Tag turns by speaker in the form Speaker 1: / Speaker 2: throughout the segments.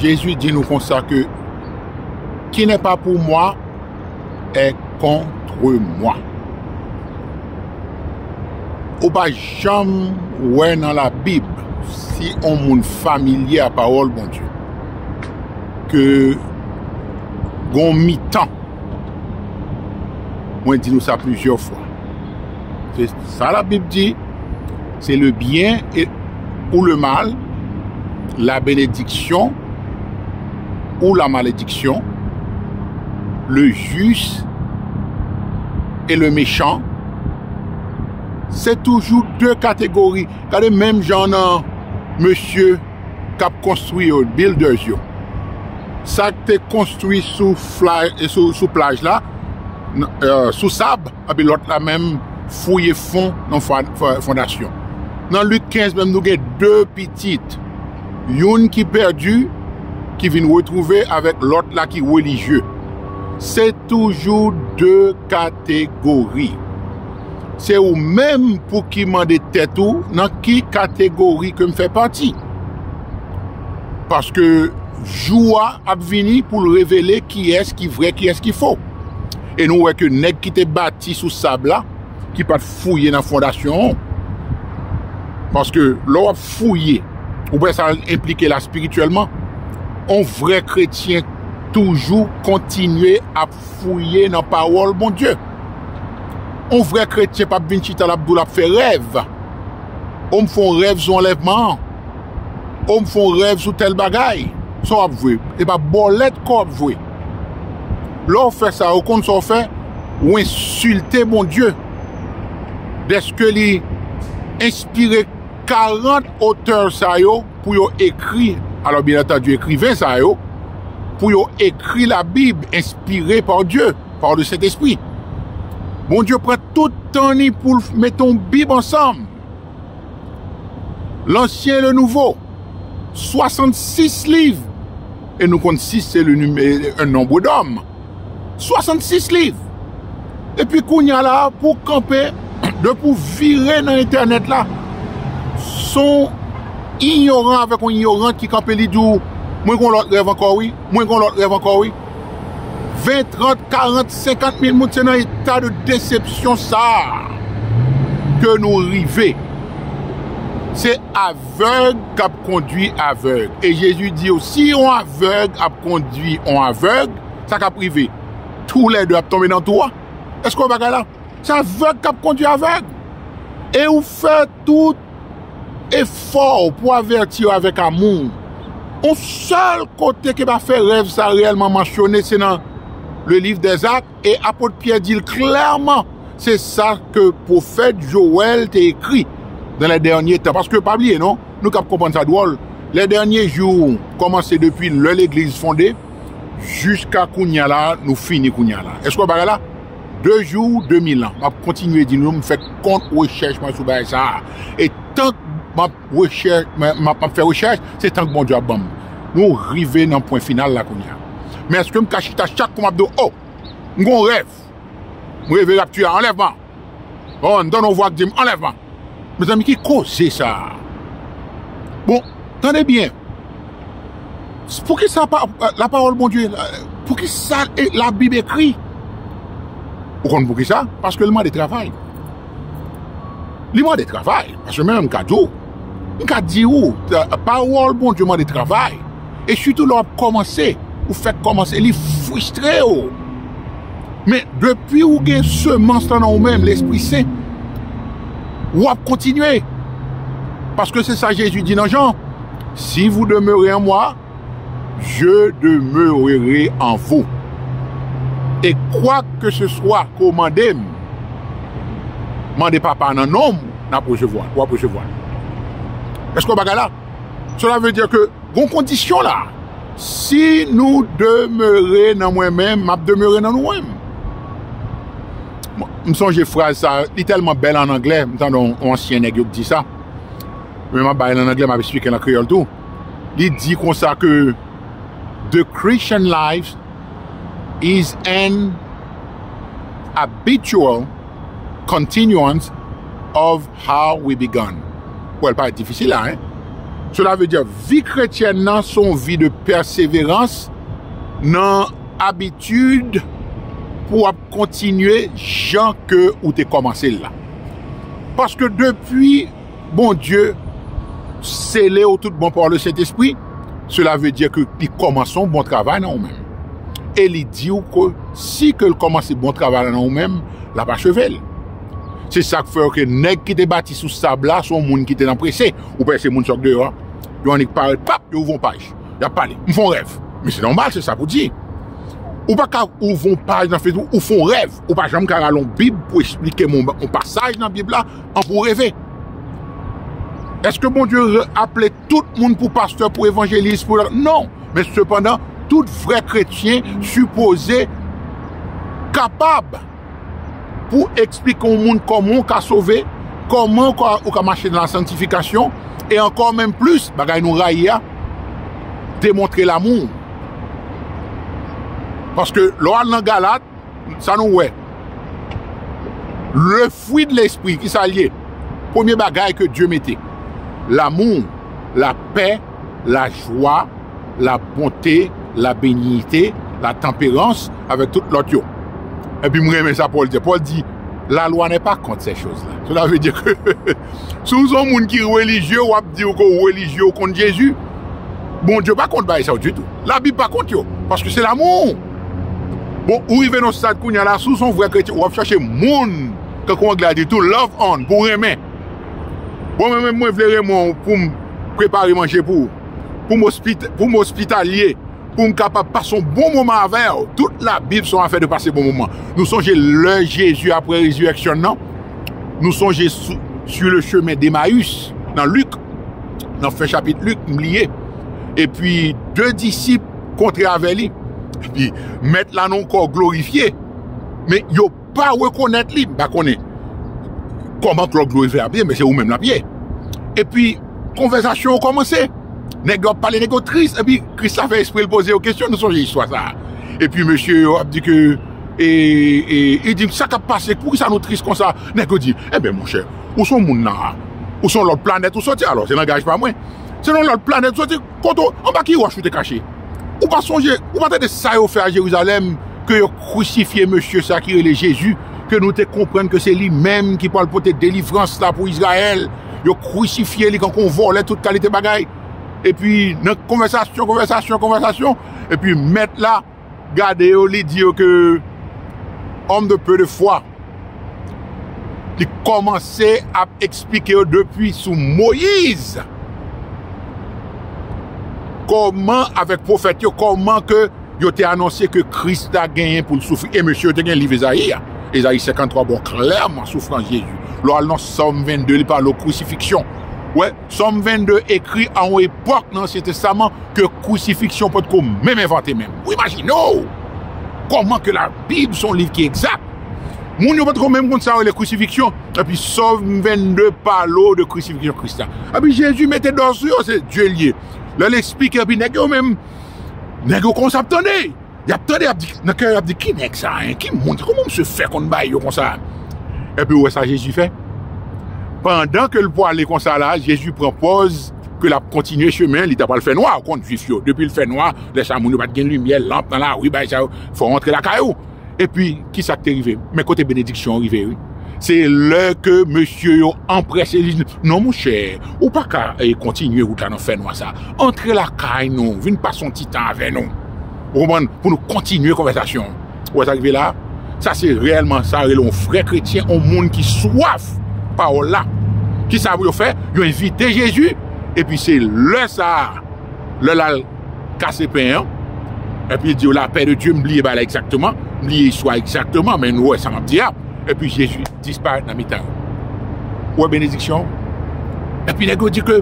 Speaker 1: Jezi di nou konsa ke ki nè pa pou mwa è kontre mwa. Ou pa janm wè nan la bib si on moun familye a pawòl Bondye ke gon mitan mwen di nou sa plizyè fwa. Se sa la Bib di, se le byen e ou le mal, la benediksyon ou la malediksyon, le jis e le mechan. Se toujou de kategori. Gade menm jan nan mesye k ap konstwi yo, builders yo. Sa k te konstwi sou plaj la, sou sab. epi lòt la menm fouye fon nan fondasyon. Nan Lik 15 menm nou gen 2 pitit, youn ki pèdi ki vin retwouve avèk lòt la ki relijye. Se toujou 2 kategori. Se ou menm pou ki mande tèt ou nan ki kategori ke m fè pati. Paske jou a ap vini pou l revele kiyès ki vrè kiyès ki fo. E nou wè ke nèg ki te bati sou sab la, ki pa t fouye nan fondasyon an, paske lè w ap fouye, ou wè sa enplike la espirityèlman, yon vrè kretyen toujou kontinye ap fouye nan pawòl Bondye. Yon vrè kretyen pa p vin chita l ap di w l ap fè rèv, o m fè yon rèv sou anlèvman an, o m fè yon rèv sou tèl bagay, sa w ap jwe? Se pa bòlèt kò w ap jwe. Lè w fè sa, ou konn sa w fè? Ou ensilte Bondye dèske li enspire 40 otè sa yo pou yo ekri, alò byen antandi ekriven sa yo, pou yo ekri Labib enspire pa Dye, pa le Sentespri. Bondye pran tout tan ni pou l mete yon Bib ansanm, Lansyen e Lenouvo, 66 liv. E nou konn 6 se le numero un nombre d'homme. 66 liv! E pi kounya la a pou kanpe, depi w vire nan entènèt la, s on inyoran avèk on inyorant ki kanpe li di w, mwen gen yon lòt rèv ankò wi, mwen gen yon lòt rèv ankò wi. 20, 30, 40, 50 mil moun se nan eta de desepsyon sa a ke nou rive. Se avè. Avèg k ap kondui avèg. E Jezi di yo, si yon avèg ap kondui yon avèg, sa k ap rive? Toulè de ap tonbe nan twou a. Èske w wè bagay la? Se avèg k ap kondui avèg. E ou fè tout efò w pou avèti yo avèk amou. Yon sèl kote ke pa fè rèv sa a reyèlman mansyone, se nan Le Liv dè Zak. E apot Pyè di l klèman, se sa ke pwofèt Jowèl te ekri, Nan lè dènye tan, paske pa bliye non, nou kab konprann sa dwòl, lè dènye jou kòmanse depi lè legliz fonde jiska kounye a la a, nou fini kounye a la a. Èske w wè bagay la? De jou, de mil an. M ap kontinye di nou, m fè kont rechèch mwen sou bagay sa a, e tank m ap. rechèch mwen map map fè rechèch se tank Bondye ap banm nou rive nan pwen final la kounya men eskem ka chita chak kou map di oh m gon rèv m reve rapture a anlèvman oh mtande yon vwa k dim anlèvman mezanmi ki koze sa bon tande byen Poukisa la pawòl Bondye, poukisa la bib ekri? Ou konn poukisa? Paske li mande travay. Li mande travay. Paske menm m ka di ou, m ka di ou, pawòl Bondye mande travay. E sitou lè w ap kòmanse, ou fèk kòmanse, li fristre ou. Men, depi ou gen semans lan nan ou menm, Lespri Sen, ou ap kontinye. Paske se sa Jezi di nan Jan, Si vou demere an mwa, je demerere an vou. E kwak ke se swa ke ou mande m, mande Papa a nan non m, n ap resevwa l, w ap resevwa l. Èske w wè bagay la? Cela veut dire que gon kondisyon la, si nou demeure nan mwen menm, m'ap demeure nan nou menm. M sonje fraz sa, li tèlman bèl an anglè, m tande yon ansyen nèg yo k di sa, men m'ap bay l an anglè, m'ap esplike l an kreyòl tou, li di konsa ke The Christian life is an habitual continuance of How we begun Wè l pa ret difisil la hein Cela veut dire vi kretyèn nan se yon vi de pèseverans nan abitid pou w ap kontinye jan ke ou te kòmanse l la. Paske depi Bondye sele w tout bon pa le Sentespri, cela veut dire ke li kòmanse yon bon travay nan ou menm. E li di w ke si ke l kòmanse bon travay la nan ou menm, l ap acheve l. Se sak fè ke nèg ki te bati sou sab la son moun ki te nan prese. Ou pè se moun sòk deyò a. Yo annik parèt pap, yo ouvon paj. Yap pale. M fon rèv. Men se nòmal se sa pou di. Ou pa ka ouvon paj nan Facebook ou fon rèv. Ou pa janm ka rale yon bib pou esplike moun yon pasaj nan bib la an pou reve. Eske Bondye aple tout moun pou pastè, pou evanjelis, pou lòt? Non. Men sepandan tout vrè kretyen sipoze kapab. pou eksplike yon moun kòman ou ka sove, kòman ou ka mache nan la santifikasyon, e ankò menm plis, bagay nou rayi a, demontre lamou ou. Paske lè w al nan Galat, sa nou wè? Le fwi de lespri, ki sa l ye? Premye bagay ke Dye mete, lamou, lapè, la jwa, la bonte, la benignite, la tanperans, avèk tout lòt yo. Epi m renmen sa Pòl di. Pòl di, La lwa nè pa kont sè choz la. Sela ve di ke si w se yon moun ki relijye, w ap di ke w relijye, w kont Jezi. Bondye pa kont bagay sa yo ditou. Labib pa kont yo, paske se lamou. Bon, ou rive nan yon stad kounye a la, si w se yon vrè kretyen, w ap chache moun, tankou angle a di tou, love on, pou w renmen. Bon mwen menm mwen vle Raymond w poum prepare manje pou poum ospitalye poum kapab pase yon bon moman avèw tout la bib son afè de pase bon moman nou sonje lè Jezi aprè rezireksyon nan nou sonje su le chemen d'Emmaüs nan Luc nan fen chapit Luc m bliye epi 2 disip kontre avè li epi mèt la nan yon kò glorifye men yo pa rekonèt li, m pa konnen kòman Klòk Dlo Ive ap ye men se ou menm l ap ye. Epi konvèzasyon yo kòmanse, nèg yo ap pale, nèg yo tris epi Kris la fè espre l poze yo kesyon, nou sonje istwa sa a. Epi mesye yo ap di ke e, e, li di sa k ap pase, poukisa nou tris konsa? Nèg yo di, enben monchè, ou s on moun la a, ou s on lòt planèt ou soti, alò se langaj pa mwen, se nan lòt planèt ou soti. Kote w, anba ki wòch ou te kache? Ou pa sonje, ou pa tande sa yo fè a Jerizalèm, ke yo krisifye mesye sa a ki rele Jezi, ke nou te konprann ke se li menm ki pral pote delivrans la pou Izrayèl? Yo krisifye li kankou yon vòlè tout kalite bagay. Epi, nan konvèsasyon, konvèsasyon, konvèsasyon, epi mèt la. gade yo li di yo ke homme de peu de foi li kòmanse ap eksplike yo depi sou Moïse kòman avèk pwofèt yo kòman ke yo te anonse ke Kris la genyen pou l soufri e mesye yo te gen liv Ezayi a Ezayi 53 ba w klèman soufrans Jezi lè w al nan Sòm 22 li pale w krisifiksyon wè Sòm 22 ekri a yon epòk nan Ansyen Testaman ke Krisifiksyon pa t ko menm envante menm. Ou imajine w kòman ke Labib se yon liv ki egzak. Moun yo pa t ko menm konn sa yo rele Krisifiksyon. Epi Sòm 22 pale w de Krisifiksyon Kris la. Epi Jezi mete dò sou yo, se Dye l ye. Lè l esplike epi nèg yo menm, nèg yo kòmanse ap tande. Yap tande yap di, nan kè yap di ki nèg sa hein, ki moun, kòman misye fè konn bay yo konsa. Epi ou wè sa Jezi fè? Pandan ke l pwale konsa la, Jezi pran pòz ke l ap kontinye chemen li ta pral fè nwa, ou konn jwif yo, depi l fè nwa, lè sa moun yo pat gen limyè, lanp nan lari, bagay sa yo, fò w antre lakay ou. Epi kisa k te rive? Men kote benediksyon an rive wi. Se lè ke mesye yo anprese li. Non monchè, ou pa ka kontinye wout la nan fè nwa sa. Antre lakay nou, vin pase yon ti tan avè nou. Ou konprann? Pou nou kontinye konvèsasyon an. Ou wè sa ki rive la a? Sa se reyèlman sa yo rele yon vrè kretyen, yon moun ki swaf pawòl la. Ki sa pou yo fè? Yo envite Jezi, epi se lè sa a, lè l al. kase pen an, epi li di yo la pè de Dye, m bliye ba la egzakteman, m bliye istwa egzakteman, men nou wè sa m ap di a, epi Jezi disparèt nan mitan yo. Ou wè benediksyon? Epi nèg yo di ke,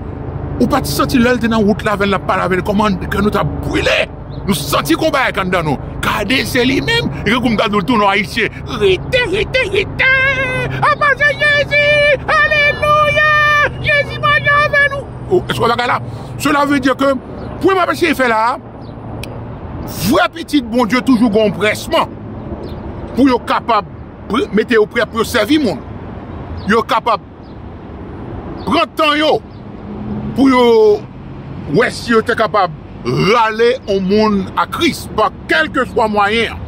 Speaker 1: ou pa t santi lè l te nan wout la avè l, l ap pale avè l, kòman kè nou ta brile? Nou santi gon bagay anndan nou. Gade se li menm, e gen kou m ta di w tou non ayisyen, rete, rete, rete, apa se Jezi, alelouya, Jezi mache avè nou. Ou eske w wè bagay la? Sela vle di ke pwen m ap eseye fè la a, vrè pitit Bondye toujou gen yon presman pou yo kapab mete yo prè pou yo sèvi moun. Yo kapab pran tan yo pou yo wè si yo te kapab rale yon moun a Kris. kèlkeswa mwayen an.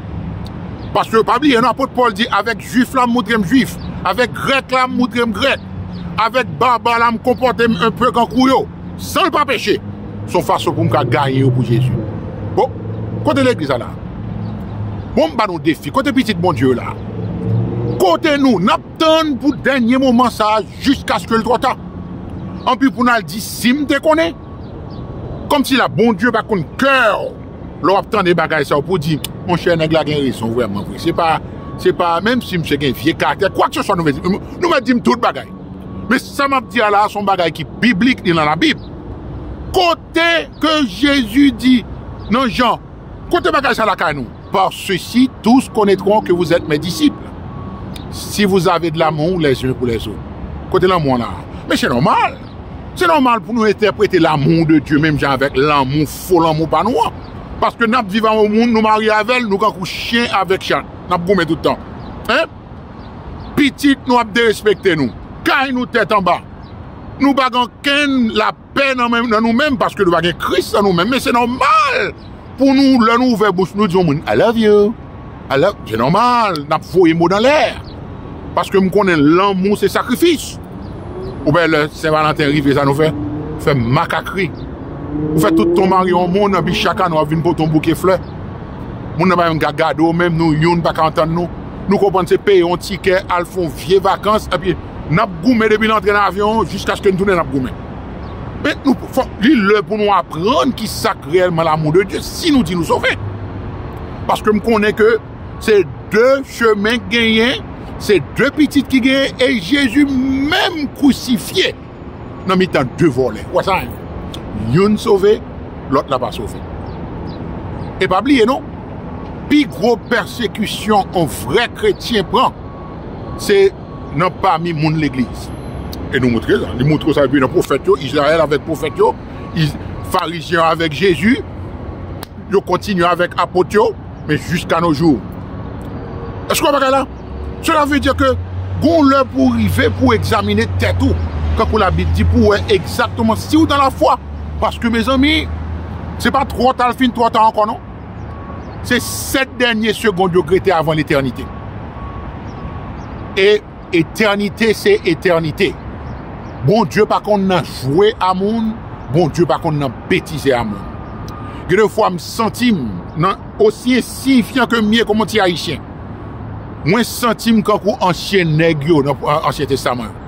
Speaker 1: Paske, pa bliye non, apot Pòl di, avèk Juif la, m moutre m Juif, avèk Grèk la, m moutre m Grèk, avèk Barbare la, m konpòte m enpe kankou yo, san l pa peche. Se yon fason pou m ka gaye yo pou Jezi. Bon, kote Legliz la la a? Bon, m ba nou defi, kote pitit Bondye yo la a? Kote nou? N ap tann pou dènye moman sa a jiskaske l twò ta? Anpi pou n al di, si m te konnen? Kòmsi la Bondye pa konn kè ou? lè wap tande bagay sa yo pou di monchè nèg la gen rezon vrèman vre se pa se pa menm si misye gen vye karaktè kwak se swa nou mèt nou mèt dim tout bagay men sa map di a la son bagay ki biblik li nan labib kote ke jezi di nan jan kote bagay sa lakay nou par sesi tous konetron ke vouzèt mè disip si vouzave dlamou lèzun pou lèzot kote lanmou an la men se nòmal Se nòmal pou nou entèprete l'amour de Dieu menm jan avèk lanmou, fo lanmou pa nou an. Paske n'ap viv ak yon moun, nou marye avè l, nou kankou chyen avèk chat, n'ap goumen tout tan. Hein? Pitit nou ap derespekte nou, kay nou tèt anba, nou pa gen okenn lapè nan nou menm paske nou pa gen Kris nan nou menm men se nòmal Pou nou lè nou ouvè bouch nou di yon moun I love you, I love, se nòmal nap voye mo nan lè paske m konnen lanmou se sakrifis ou pa wè lè sen valanten rive sa nou fè? fè makak ri ou fè tout ton mari yon moun epi chak ane wap vin pote yon bouke flè moun nan pa menm ka gade w menm nou youn paka antann nou nou konprann se peye yon tikè al fè yon vye vakans epi nap goumen depi l antre nan avyon jiskaske n tounen nap goumen. Met nou pou fòk li lè pou nou aprann ki sak reyèlman lamou de Dye si nou di nou sove. Paske m konnen ke se de chemen k genyen, se de pitit ki genyen e Jezi menm kousifye nan mitan de vòlè. Wè sa? Youn sove, lòt la pa sove. E pa bliye non, pi gwo pèsekisyon yon vrè kretyen pran, se. nan pami moun legliz. E nou montre sa. Li montre w sa depi nan pwofèt yo, Izrayèl avèk pwofèt yo, Farizyen yo avèk Jezi, yo kontinye avèk Apot yo, men jiska no jou. Èske w wè bagay la? Sela vle di ke gen yon lè pou w rive pou w egzamine tèt ou, tankou Labib di, pou w wè egzakteman si w dan lafwa. Paske mezanmi, se pa twò ta l fin twò ta ankò non. Se 7 dènye segond yo k rete avan letènite. E etènite se etènite. Bondye pa konn nan jwe a moun, Bondye pa konn nan betize a moun. Gen de fwa m santi m nan osi ensiyifyan ke m ye kòm yon ti ayisyen. Mwen santi m kankou ansyen nèg yo nan ansyen testaman yo.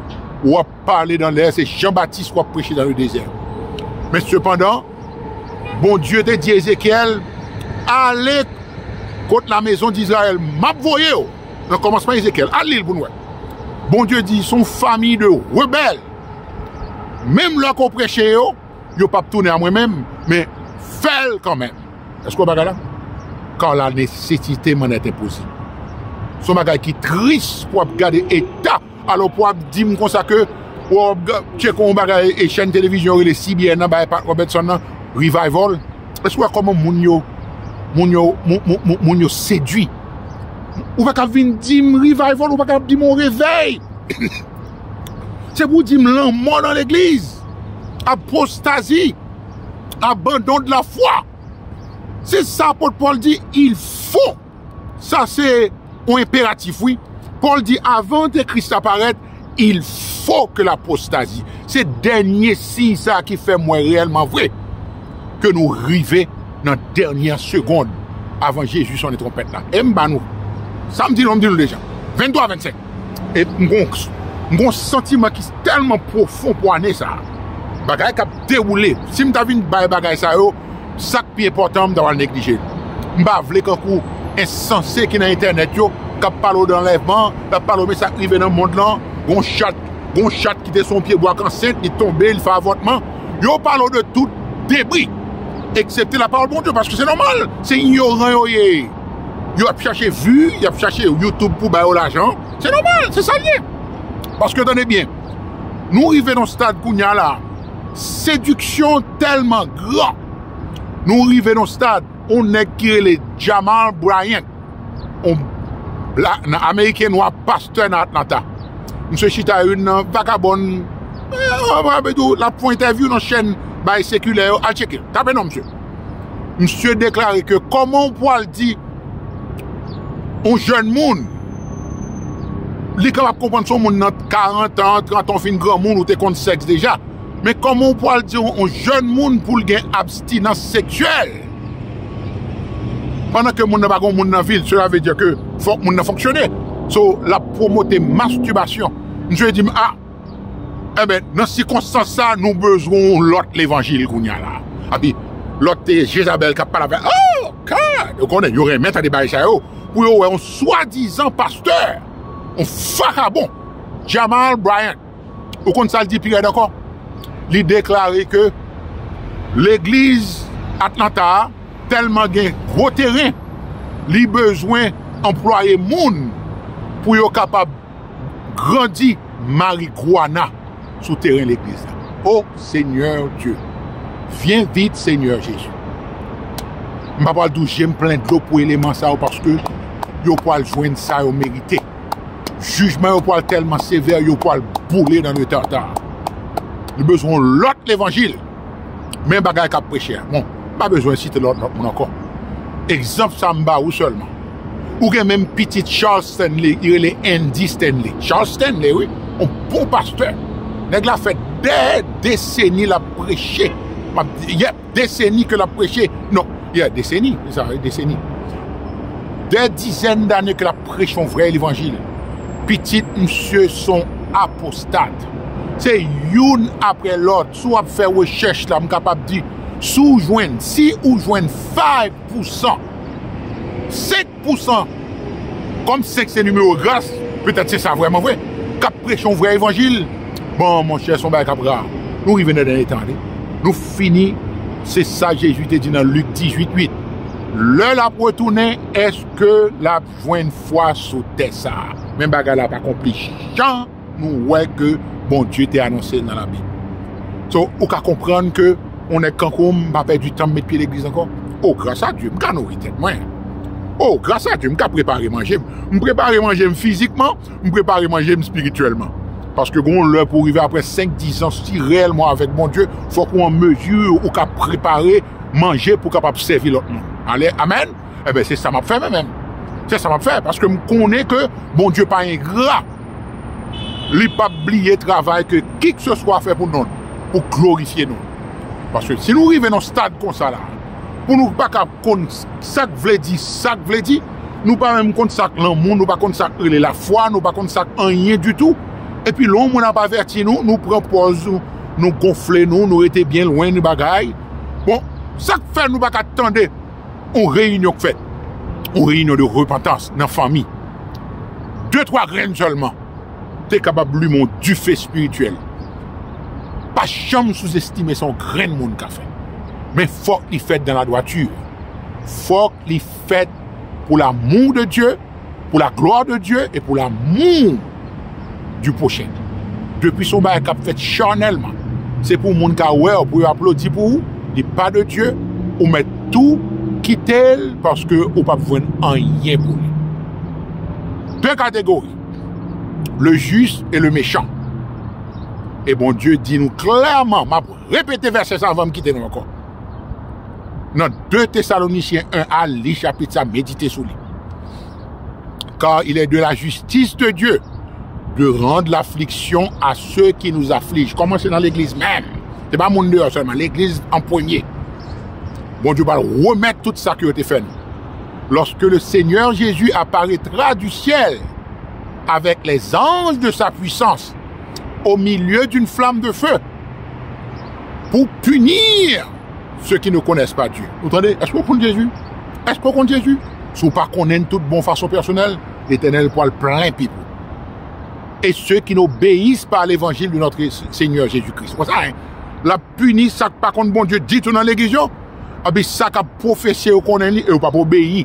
Speaker 1: Ou ap Pale nan lè se Jan Batis wap preche nan le dezè. Men sepandan, Bondye te di Ezekyèl, Ale kot la mezon d'Izrayèl, map voye w. Nan kòmansman Ezekyèl, al li l pou n wè. Bondye di, son fami de rebèl. Menm lè ke w preche yo, yo pap tounen a mwen menm, men fè l kanmenm. Èske w wè bagay la? Kar la nesesite m'en est impossible. Son bagay ki tris pou ap gade eta. Alò pou ap dim konsa ke Rob tcheko yon bagay e chèn televizyon yo rele CBN an bay Pat Robertson nan revival èske ou wè kòman moun yo moun yo moun yo sedwi ou pa ka vin dim revival ou pa ka dim yon revèy se pou dim lanmò nan legliz apostazi abandon de la fwa se sa apot Paul di il fo Sa se yon enperatif wi. Pòl di avan antekris la parèt, il fo ke l apostazi. Se dènye siy sa ki fè m wè reyèlman vre ke nou rive nan dènye segond avan Jezi sonnen twonpèt la. E m ba nou sa m di nou an, m di nou deja. 23 25 e m gen yon santiman ki tèlman pwofon pou ane sa a. Bagay k ap dewoule. Si m ta vin bay bagay sa yo. Sak pi enpòtan an m ta pral neglije l. M pa vle kankou ensanse ki nan entènèt yo k ap pale w de anlèvman, k ap pale w men sa k rive nan mond lan, gen yon chat, gen yon chat ki te sou yon pyebwa k ansent, li tonbe, li fè avòtman. Yo pale w de tout debri eksepte lapawòl Bondye paske se nòmal, se inyoran yo ye. Yo ap chache vi, y ap chache YouTube pou ba yo lajan. Se nòmal, se sa l ye. Paske tande byen, nou rive nan yon stad kounye a la. Sediksyon tèlman gran, nou rive nan stad yon nèg ki rele Jamal Bryant, yon Ameriken nwa pastè nan Atlanta. Misye chita ak youn nan vagabon, l ap fè yon entèvyou nan chèn bay sekilè yo, al tcheke l, tape non misye. Misye deklare ke kòman ou pwal di. yon jèn moun, li kapab konprann se yon moun nan 40 an, 30 an, ou fin granmoun, ou te konn sèks deja. Men kòman ou pwal di yon jèn moun pou l gen abstinans seksyèl pandan ke moun nan pa gen yon moun nan vi l? Sela ve di ke fòk moun nan fonksyone. So, l ap pwomote mastibasyon. Misye di m a! Enben, nan sikonstans sa a, nou bezwen yon lòt levanjil kounye a la a. Epi, lòt te Jezabèl k ap pale avè, O! God! Ou konnen, yo renmen tande bagay sa yo, pou yo wè yon swadizan pastè, yon vakabon, Jamal Bryant, ou konn sa l di pi rèd ankò? Li deklare ke legliz Atlanta a tèlman gen gwo teren, li bezwen anplwaye moun pou yo kapab. grandi mariguana sou teren legliz la oh seigneur Dieu vyen vit seigneur Jesus m pa pwal dou jem plen dlo pou eleman sa yo paske yo pwal jwenn sa yo merite jijman yo pwal telman sevè yo pwal boule nan le tartare nou bezwen yon lot levanjil. Men bagay kap preche a. Bon, m pa bezwen site lòt moun ankò. Egzanp sa m ba ou sèlman. Ou gen menm pitit Charles Stanley, li rele Andy Stanley. Charles Stanley wi, yon bon pastè. Nèg la fè dè deseni l ap preche. Yè, deseni ke l ap preche. Non, yè, deseni, se sa, deseni. Dè dizèn dane ke l ap preche yon vrè levanjil. Pitit misye son apostat. Se youn apre lòt. Si w ap fè rechèch la, m kapab di, si w jwenn, si ou jwenn five pousan, senk pousan, kòm senk se nimewo gras, petèt se sa vrèman vre, k ap preche yon vrè evanjil, bon, monchè, se yon bagay k ap ra. Nou rive nan dènye tan an, tande. Nou fini. Se sa Jezi te di nan Lik dizuit uit, Lè l ap retounen, èske l ap jwenn fwa sou tè sa a? Men bagay la ap akonpli jan. Nou wè ke Bondye te anonse l nan labib. So, ou ka konprann ke yon nèg kankou m, m pa pèdi tan m met pye legliz ankò. O, gras a Dye, m ka nouri tèt mwen. O, gras a Dye, m ka prepare manje m. M prepare manje m fizikman, m prepare manje m espirityèlman. Paske gen yon lè pou rive apre senk, dis an, si reyèlman w avèk Bondye, fòk ou an mezi ou ka prepare manje pou w kapab sèvi lòt moun. Ale, amèn? Enben, se sa m ap fè mwen menm. Se sa m ap fè, paske m konnen ke Bondye pa engra. li pap bliye travay ke kikseswa fè pou non l, pou glorifye non l. Paske si nou rive nan yon stad konsa la, pou nou pa ka konn sa k vle di sa k vle di, nou pa menm konn sa k lanmou, nou pa konn sa k rele lafwa, nou pa konn sa k anyen ditou, epi lè yon moun ap avèti nou, nou pran pòz nou gonfle nou, nou rete byen lwen bagay, bon, sa k fè nou pa ka tande? yon reyinyon k fèt, yon reyinyon de repantans nan fanmi, de twa grenn sèlman te kapab limen yon dife espirityèl. Pa janm souzestime sa yon grenn moun ka fè. Men fòk li fèt dan ladwati, fòk li fèt pou lamou de Dye, pou la glwa de Dye e pou lamou di pwochen. Depi se yon bagay k ap fèt chanèlman, se pou moun ka wè w, pou yo aplodi pou ou, li pa de Dye, ou mèt tou kite l paske ou p ap jwenn anyen pou li. De kategori, le jis e le mechan. E Bondye di nou klèman, m ap repete vèsè sa a avan m kite nou ankò. Nan 2 Tesalonicien 1 al li chapit sa medite sou li. Kar il est de la justice de Dieu de rand lafliksyon a se ki nou zaflij. Koman se nan legliz menm. Se pa moun deyo selman. Legliz an premye. Bon Dieu pa remet tout sa ki yo te fè nou. Loske le Seigneur Jésus aparetra du ciel avek les anges de sa puissance au milieu d'une flamme de feu. pou punir ceux qui ne connaissent pas Dieu. Ou tande? Eske ou konn Jezi? Eske ou konn Jezi? Si ou pa konnen l tout bon fason pèsonèl, Letènèl pwal plen pip ou. E ceux qui n'obeyissent pas à l'evangile de notre Seigneur Jésus-Christ. Wè sa? L ap pini sa k pa konn Bondye ditou nan legliz yo. Epi sa k ap pwofese yo konnen li e yo p ap obeyi.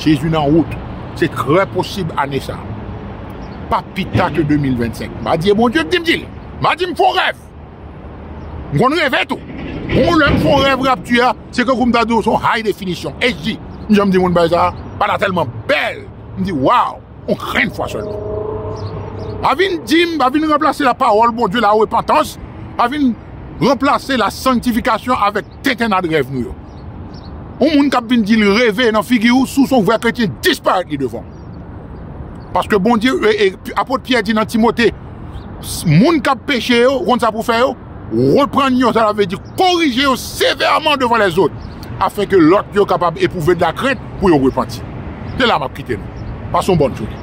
Speaker 1: Jezi nan wout, se trè posib ane sa pa pi ta ke 2025. M a di e Bondye ki di m di l. M a di m fon rèv. M konn reve tou. Bon lè m fon rèv rapti a, se tankou m ta di w se yon high definition, HD. M janm di moun bagay sa, pa ta tèlman bèl. M di waw, yon grenn fwa sèlman. Pa vin di m, pa vin ranplase lapawòl Bondye, larepantans, pa vin ranplase lasanktifikasyon avèk. tentennad rèv nou yo. Yon moun k ap vin di l reve nan figi w si w se yon vrè kretyen disparèt li devan w. Paske Bondye, apot Pyè di nan Timote, moun k ap peche yo, ou konn sa pou w fè yo? Reprann yo, sa vle di korije yo sevèman devan lèzot, afenke lòt yo kapab epwouve dlakrent pou yo repanti. Se la m ap kite nou. Pase yon bòn jounen.